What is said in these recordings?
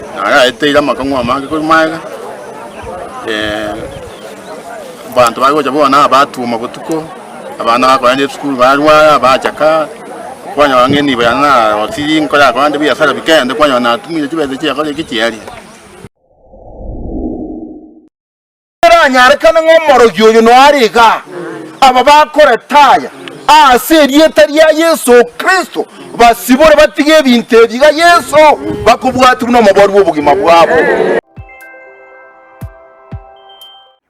Naro aeteire amakong'u amange korwa magega, abanto bare gocha bono abatwoma botuko, abana bakorenda esukuru barware, abachaka, kwanyora ng'a enibo yane narosiri nkore akaba nde biasara bikende, kwanyora natumire chibesa chiakorire ki chiaria. Neranyarekane ng'a omorogi oyo noare iga, aba bakoreta aya aase erieta ria Yeso Kristo basibore batige ebinto ebi iga Yeso bakobwatigwa nomobaru bw'obogima bwabo.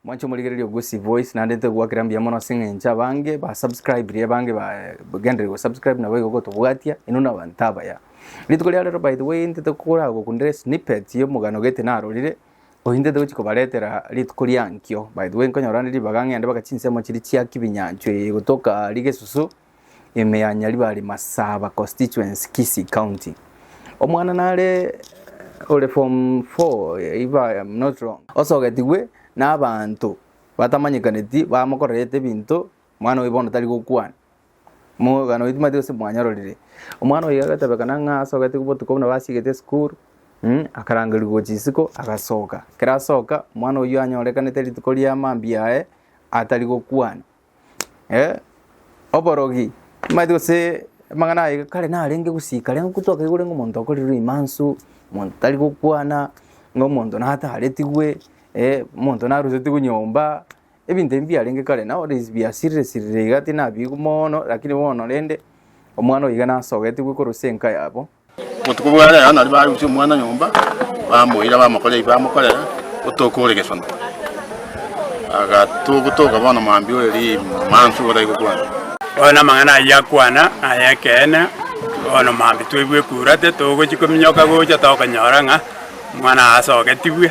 Mwanche omorigereria o Gusii Voice naende ntogwakera mbuya mono ase eng'encho abange ba subscriberie abange ba gendereria go subscribe nabo igo gotobwatia inwe na abanto abaya. Rituko ria rero by the way ntete koragokunderia snippet y'omogano gete narorire Ointete gochia kobaretera rituko riankio. By the way, nkonyora ne ribaga ng'ende baka chinsemo chiri chia kibinyanchwa eye gotoka rigesusu ime ya Nyaribari Masaba constituency Kisii County. Omwana nare ore form 4 if I am not wrong. Osogetigwe n'abanto batamanyekaneti bamokorerete ebinto Omwana oye bono tari gokwana. Omogano oito timanyeti gose mwanyororire. Omwana oye agatebekana ng'a asogete botuko buna basiegete esukuru, mh, akarangerigwa gochia isiko, agasoka. Ekero asoka, omwana oyio anyorekanete rituko ria mambia aye atari gokwana. Eh, oborogi, timanyeti gose amang'ana aye kare narenge gosika rero ko twakaigure ng'a omonto okorirwe rimansu, omonto tari gokwana, ng'a omonto nataretigwe, eh, omonto narusetigwe nyomba. Ebinto ebi mbiarenge kare nao rende biasirire sirire iga tinabiigwa mono, lakini bono rende omwana oyo iga nasogetigwe korwa ase enka yabo. Botuko bwa rero nario barusia omwana nyomba, bamoira bamokorera ebi bamokorera, otoke ore gesona. Agatoka gotoka bono mambia ore rimansu igo tari gokwana. Bono amang'ana ayio akwana naye ekeene, bono mambia twaigwa ekurate, togochia kominyoka gocha tokonyora ng'a omwana asogetigwe.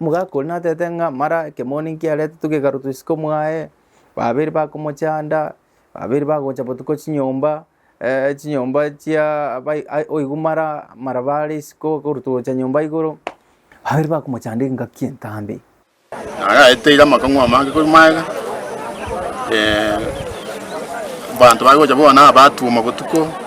Omogaka oria natete ng'a mara ekemoni nkiaretetwe gekarwa tw'isiko mwaye, babere bakomochanda, babere bagocha botuko chinyomba chinyomba chia abai ai oigwa mara mara bare isiko korwa togocha nyomba igoro, babere bakomochanda engaki entambe. Naye aeteire amakong'u amange korwa magega, abanto baye gocha bono nabaatuoma botuko.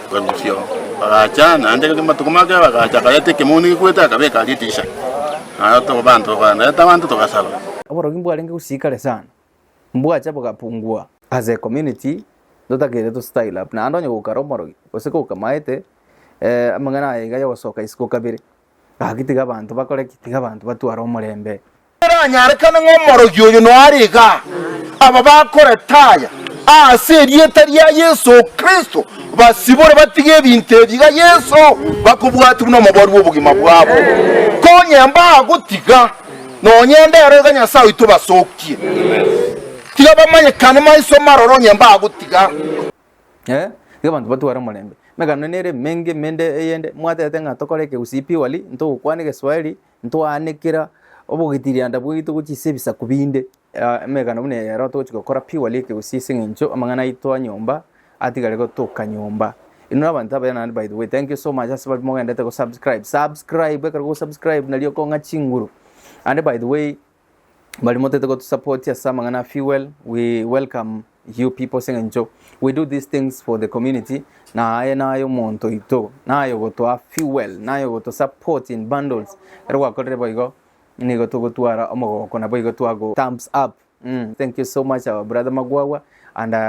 Bagusio bagacha, naende ekero amatuko maakire bagacha, akareta ekemoni gekwete akabeka aria etiisha. Naye oto- abanto bakareta abanto togasaba. Oborogi mbwarenge gosii kare sana, mbwacha bogapungua. As a community totakeire to style up naende onye goikara omorogi gose gokamaete amang'ana aye iga yogosoka isiko kabere Gaki tiga abanto bakore ki? Tiga abanto batware omorembe. Eranyarekane ng'a omorogi oyo noare igaa, aba bakorete aya ase erieta ria Yeso Kristo basibore batige ebinto ebi iga Yeso bakobwati buna omobori bw'obogima bwabo. Konye mbagotiga, nonye ndero iga Nyasae oito basokie. Tiga bamanyekane maiso maroro onye mbagotiga. eh, nigo abanto batware omorembe. Emegano ere emenge emende eyende mwatete ng'a tokore eke gose epiwali, ntogokwana egeswaeri, ntwaane kera obogitirianda bwaito gochia ase ebisaku binde, ah emegano buna eye ero togochi gokora piwali eke gose ase eng'encho amang'ana aito a nyomba atigare gotoka nyomba. Inwe abanto abaya naende by the way, thank you so much ase baria mogendete gosubscribe, subscribe ekero ogosubscribe nari okong'a chinguru, naende by the way bari motete gotusapoti ase amang'ana a fuel we welcome you people seng'encho we do these things for the community na aye naye omonto oito naye ogotoa fuel naye ogotusupport in bundles ero gwakorire boigo nigo togotwara omogoko nabo igo twago thumbs up mm, thank you so much our brother magwagwa and uh,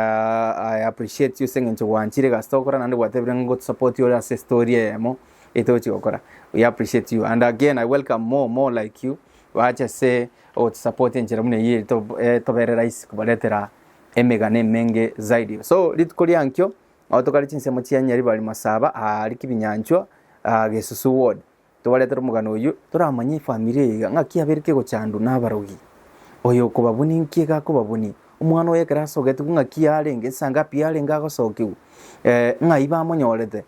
i appreciate you seng'encho gwanchire egasi togokora naende gwatebire ngotusupport ore ase story eyemo etochi gokora we appreciate you and again i welcome more more like you Bache ase ogotusupport enchera buna eyio etobere rahisi kobaretera emegano emenge zaidi. So rituko riankio nabo tokare chinsemo chia Nyaribari Masaba aria Kibinyanchwa Gesusu ward tobaretere omogano oyio toramanye efamiri eye iga ng'aki yabeire kegochandwa na abarogi. Oyo okobabonia nki iga akobabonia, omwana oye ekero asogetigwe ng'aki yarenge, nsa ngapi yarenge agosokiwa, ng'ai bamonyorete,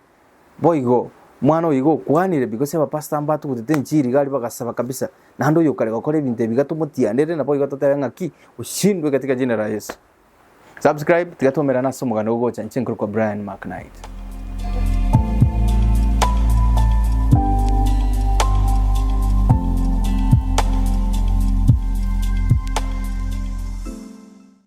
Boigo, mwana oyo igo okwanire, because abapastor mbatugutete enchiri iga aria bagasaba kabisa, naende oyo okare gokora ebinto ebi iga tomotianere, naboigo totebe ng'aki, oshindwe katika jina la Yesu. Subscribe, tiga twaumerane ase omoganda ogocha, inche nkorokwa Brian McKnight.